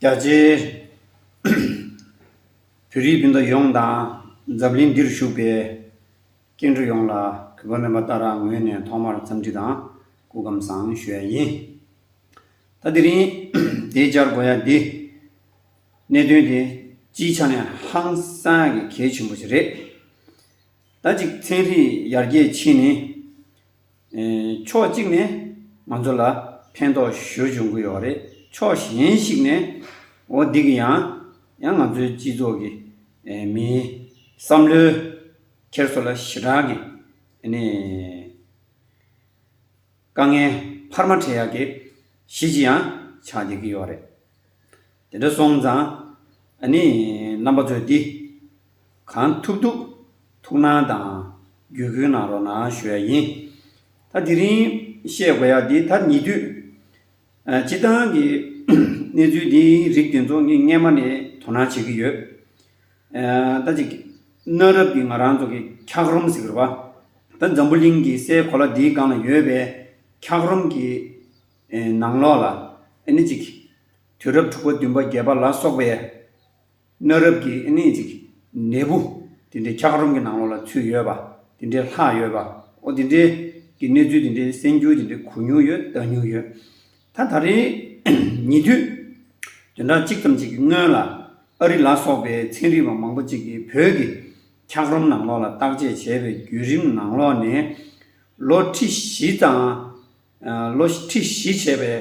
རྒྱ་ཆེའི་བོད་རིགས་སྤུན་ཟླ་ཡོངས་དང་འཛམ་གླིང་འདིར་བཞུགས་པའི་སྐྱེ་འགྲོ་ཡོངས་ལ་གུས་པ་སྨོན་པ་ལྟར་རང་ངོས་ནས་ཐོག་མར་འཚམས་འདྲི་དང་སྐུ་བསྒམས་བཟང་ཞུ་ཡ་ཡིན། ད་དེ་རིང་དེའི་བཅར་དགོས་ཡ་འདི། གནད་དོན་དེ་སྤྱིའི་ཆ་ནས་ཧང་སང་གི་གལ་ཆེན་པོ་ཞིག་རེད། ད་ཅིག་ཚན་རིག་ཡར་རྒྱས་ཕྱིན་ནས་ཕྱོགས་གཅིག་ནས་ང་ཚོ་ལ་ཕན་ཐོགས་ཞོར་འབྱུང་གི་ཡོད་རེད། ཕྱོགས་གཞན་ཞིག་ནས་འོ་འདི་གི་ཡང་ཡང་ང་ཚོའི་སྤྱི་ཚོགས་ཀྱི་མིའི་བསམ་བློའི་འཁྱེར་སོ་ལ་ཞི་དྲག་གི་དཀའ་ངལ་འཕར་མ་འཕྲད་ཡག་གི་གཞི་ཅི་ཡང་ཆགས་བསྡད་ཀྱི་ཡོད་རེད། དེ་འདྲ་སོང་ཙང་ཨ་ནི་རྣམ་པ་ཚོས་འདི། གང་ཐུབ་ཐུབ་ཐུགས་སྣང་དང་བརྒྱུད་སྐུལ་གནང་རོགས་གནང་ཞུ་ཡ་ཡིན། ད་དེ་རིང་བཤད་དགོས་ཡ་འདི་ད་ཉེ་དུས། སྤྱི་བཏང་གི་གནས་ཚུལ་འདི་རིགས་དེ་ཚོ་ངས་སྔན་མ་ནས་དོ་སྣང་བྱེད་ཀྱི་ཡོད། ད་ཅིག་གནའ་རབས་ཀྱི་ང་རང་ཚོ་གི་འཁྱགས་རོམ་ཟེར་བ། ད་འཛམ་བུ་གླིང་གི་སའི་གོ་ལ་འདིའི་སྒང་ལ་ཡོད་པའི་འཁྱགས་རོམ་གྱི་ནང་ལོགས་ལ་ཨ་ནི་ཅིག། དུས་རབས་དྲུག་པ་བདུན་པ་བརྒྱད་པ་ལ་སོགས་པའི་གནའ་རབས་ཀྱི་གནས་ཅིག་འབྲས་བུ་དེ་འདྲའི་འཁྱགས་རོམ་གྱི་ནང་ལོགས་ལ་ཚུད་ཡོད་པ་དེ་འདྲའི་ལྷག་ཡོད་པ་འོ་དེ་འདྲའི་གི་གནས་ཚུལ་དེ་འདྲའི་གསན་རྒྱུ་དེ་འདྲའི་གོ་མྱོང་ཡོད་བལྟ་མྱོང་ཡོད། ད་ད་རེས་ཉེ་དུས་བདུན་ཕྲག་གཅིག་ཙམ་ཞིག་གི་སྔོན་ལ་ཨ་རི་ལ་སོགས་པའི་ཚན་རིག་པ་མང་པོ་ཅིག་གིས་བོད་ཀྱི་འཁྱགས་རོམ་ནང་ལོགས་ལ་བརྟག་དཔྱད་བྱས་པའི་བརྒྱུད་རིམ་ནང་ལོགས་ནས་ལོ་ཁྲི་བཞི་དང་ལོ་ཁྲི་བཞི་བྱས་པའི་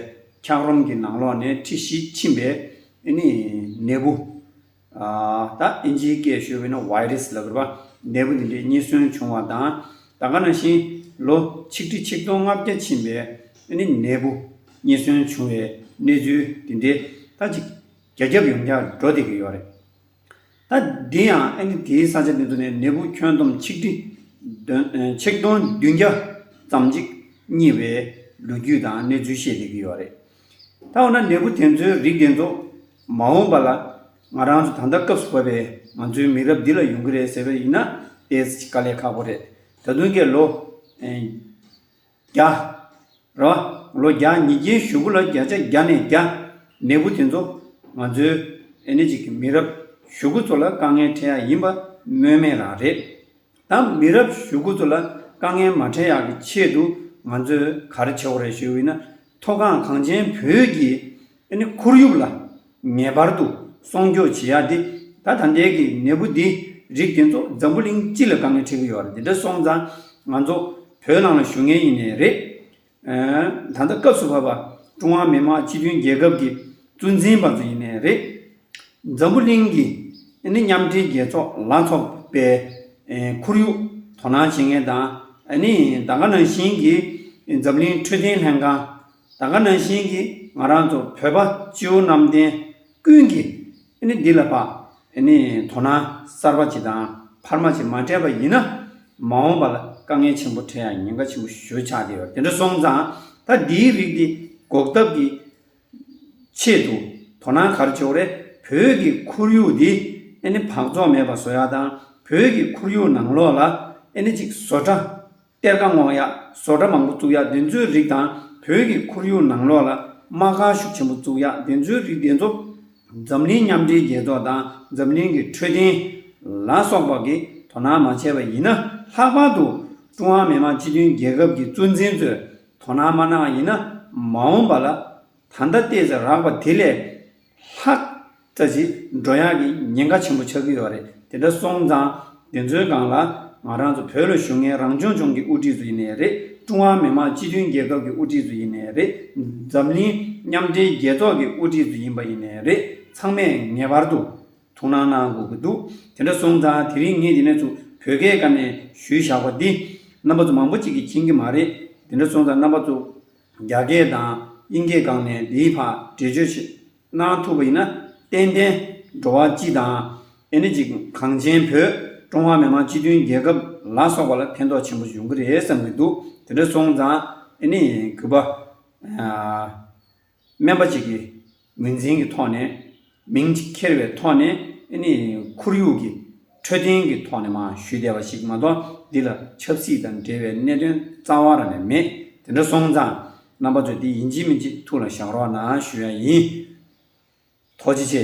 འཁྱགས་རོམ་གྱི་ནང་ལོགས་ནས་ཁྲི་བཞི་ཕྱིན་པའི་ནད་འབུ། ད་ཨིན་ཇིའི་སྐད་ཤོད་བས་ན Virus ལབ་པ་ནད་འབུ་འདི་འདྲའི་རྙེད་སོན་བྱུང་བ་དང། ད་ག་ན་བཞིན་ལོ་ཆིག་ཁྲི་ཆིག་སྟོང་ལྔ་བརྒྱ་ཕྱིན་པའི་ནད་འབུ་རྙེད་སོན་བྱུང་བའི་གནས་ཚུལ་འདི་འདྲའི་ད་ཅིག་རྒྱ་ཁྱབ་ཡོངས་ཁྱབ་འགྲོ་བསྡད་ཀྱི་ཡོད་རེད། ད་དེ་ཡང་ཨ་ནི་དེའི་ས་ཆ་འདི་ཚོ་ནས་ནད་འབུ་ཁྱོན་བསྡོམས་ཆིག་ཁྲི། ཆིག་སྟོང་བདུན་བརྒྱ་ཙམ་ཅིག་རྙེད་པའི་ལོ་རྒྱུས་དང་གནས་ཚུལ་བཤད་བསྡད་ཀྱི་ཡོད་རེད། ད་འོ་ན་ནད་འབུ་དེ་ཚོའི་རིགས་དེ་ཚོ་མ་འོངས་པ་ལ་ང་རང་ཚོ་ད་ལྟ་སྐབས་སུ་བབས་པའི་ང་ཚོའི་མི་རབས་འདི་ལ་ཡོང་གི་རེད་ཟེར་བ་ཡིན་ན་དེ་དཀའ་ལས་ཁག་པོ་རེད། ད་དུང་ཀྱེ་ལོ། བརྒྱ། ར། ལོ་བརྒྱ་ཉིས་བརྒྱའི་བཞུགས་སྒོ་ལ་བརྒྱ་ཆ་བརྒྱ་ནས་བརྒྱ། ནད་འབུ་དེ་ཚོ་ང་ཚོའི་ཨེ་ནེ་ཅིག་གི་མི་རབས་བཞུགས་སྒོ་ཚོ་ལ་དཀའ་ངལ་འཕྲད་ཡག་ཡིན་པ་སྨོས་མེད་རང་རེད། ད་མི་རབས་བཞུགས་སྒོ་ཚོ་ལ་དཀའ་ངལ་མ་འཕྲད་ཡག་གི་ཆེད་དུ་ང་ཚོས་ག་རེ་བྱེད་འོ་རེད་ཞུ་འོས་ན། མཐོ་སྒང་གངས་ཅན་བོད་ཀྱི་དེ་ནི་ཁོར་ཡུག་ལ་ངེས་པར་དུ་སྲུང་སྐྱོབ་བྱེད་ཡག་དེ་ད་ད་འདས་ཀྱི་ནད་འབུ་འདི་རིགས་དེ་ཚོ་འཛམ་བུ་གླིང་སྤྱི་ལ་དཀའ་ངལ་འཕྲད་ཀྱི་ཡོད་རེད་དེ་འདྲ་སོང་ཙང་ང་ཚོ་བོད་ནང་ལ་བཞུགས་ངེས་ཡིན་ནི་རེད། ད་ལྟ་སྐབས་སུ་བབས་པ་ཀྲུང་ཧྭ་མི་དམངས་སྤྱི་མཐུན་རྒྱལ་ཁབ་ཀྱི་གཙོ་འཛིན་པ་ཚོ་ཡིན་ནི་རེད། འཛམ་བུ་གླིང་གི་དེ་ནི་མཉམ་འབྲེལ་རྒྱལ་ཚོགས་ལ་ཚོགས་པའི་ཁོར་ཡུག་དོ་སྣང་བྱེད་མཁན་དང་ད་ག་ནང་བཞིན་གྱི་འཛམ་གླིང་འཕྲོད་བསྟེན་ལྷན་ཁང་ད་ག་ནང་བཞིན་གྱི་ང་རང་ཚོ་བོད་པ་སྤྱི་བོ་གནམ་བསྟན་ཀུན་གྱི་ནི་འདི་ལ་པ་ནི་དོ་སྣང་གསར་པ་ཅིག་དང་འཕར་མ་ཅིག་མ་སྤྲད་པ་ཡིན་ན་མ་འོངས་པ་ལ་དཀའ་ངལ་ཆེན་པོ་འཕྲད་ཡ་ཉེན་ཁ་ཆེན་པོ་ཞུ་ཆགས་ཀྱི་ཡོད་དེ་འདྲ་སོང་ཙང་ད་འདིའི་རིགས་འདི་འགོག་ཐབས་ཀྱི་ཆེད་དུ་དོ་སྣང་གར་ཆོག་རེད་བོད་ཀྱི་ཁོར་ཡུག་འདི་ནི་བག་བཙོག་མེད་པ་བཟོ་ཡ་དང་བོད་ཀྱི་ཁོར་ཡུག་ནང་ལོགས་ལ་ནི་ཅིག་བཟོ་གྲ། གཏེར་ཁ་སྔོག་ཡག་བཟོ་གྲྭ་མང་པོ་བཙུགས་ཡག་བདེན་འཚོལ་རིགས་དང་བོད་ཀྱི་ཁོར་ཡུག་ནང་ལོགས་ལ་རྨ་ཁ་ཤུགས་ཆེན་པོ་བཙུགས་ཡག་བདེན་འཚོལ་རིགས་བདེན་འཚོལ། འཛམ་གླིང་མཉམ་འབྲེལ་རྒྱལ་ཚོགས་དང་འཛམ་གླིང་གི་འཕྲོད་བསྟེན། ལ་སོགས་པ་གིས་དོ་སྣང་མ་བྱས་པ་ཡིན་ན་ལྷག་པར་དུ། ཀྲུང་ཧྭ་མི་དམངས་སྤྱི་མཐུན་རྒྱལ་ཁབ་ཀྱི་གཙོ་འཛིན་ཚོས་དོ་སྣང་མ་གནང་བ་ཡིན་ན་མ་འོངས་པ་ལ་ད་ལྟ་བལྟས་ཚེ་རགས་པ་དེ་ལས། ལྷག་བཀྲ་ཤིས་སྒྲོ་དབྱངས་ཀྱི་ཉེན་ཁ་ཆེན་པོ་ཆགས་ཀྱི་ཡོད་རེད་དེ་འདྲ་སོང་ཙང་དེ་ཚོའི་སྒང་ལ་ང་རང་ཚོ་བོད་ལ་བཞུགས་མཁན་རང་སྐྱོང་ལྗོངས་ཀྱི་དབུ་ཁྲིད་ཚོ་ཡིན་ནས་རེད་ཀྲུང་ཧྭ་མི་དམངས་སྤྱི་མཐུན་རྒྱལ་ཁབ་ཀྱི་དབུ་ཁྲིད་ཚོ་ཡིན་ནས་རེད་འཛམ་གླིང་མཉམ་འབྲེལ་རྒྱལ་ཚོགས་ཀྱི་དབུ་ཁྲིད་ཚོ་ཡིན་པ་ཡིན་ནས་རེད་ཚང་མས་ངེས་པར་དུ་ཐུགས་སྣང་གནང་དགོས་ཀྱི་འདུག་དེ་འདྲ་སོང་ཙང་དེ་རིང་ངས་དེ་ནས་ཚུ་བོད་སྐད་སྐབས་ནས་ཞུས་བཞག་པ་འདི་རྣམ་པ་ཚོ་མང་པོ་ཅིག་གིས་མཁྱེན་གྱི་མ་རེད་དེ་འདྲ་སོང་ཙང་རྣམ་པ་ཚོ་རྒྱ་སྐད་དང་དབྱིན་སྐད་སྒང་ནས་འདིའི་བར་འགྲེལ་བརྗོད་བྱེད་གནང་ཐུབ་པ་ཡིན་ན་ཏན་ཏན་འགྲོ་བ་སྤྱི་དང། ཨེ་ནི་ཅི་གངས་ཅན་བོད་ཀྲུང་ཧྭ་མི་དམངས་སྤྱི་མཐུན་རྒྱལ་ཁབ་ལ་སོགས་པ་ལ་ཕན་ཐོགས་ཆེན་པོ་ཡོང་གི་རེད་བསམ་གྱི་འདུག་དེ་འདྲ་སོང་ཙང་ཨེ་ནི་གུས་པ། སྨན་པ་གཅིག་གིས། ངོས་འཛིན་གྱི་ཐོག་ནས་མིང་གཅིག་འཁྱེར་བའི་ཐོག་ནས་ནི་ཁོར་ཡུག་གི་འཕྲོད་བསྟེན་གྱི་ཐོག་ནས་མ་ཞུས་བསྡད་པ་ཞིག་མ་གཏོགས་འདི་ལ་ཆབ་སྲིད་དང་འབྲེལ་བའི་གནད་དོན་རྩ་བ་རང་ནས་མེད་དེ་འདྲ་སོང་ཙང་རྣམ་པ་ཚོས་འདི་ཡིན་གཅིག་མིན་གཅིག་ཐུགས་ལ་བཞག་རོགས་གནང་ཞུ་ཡ་ཡིན། ཐོག་ཅི་ཆེ།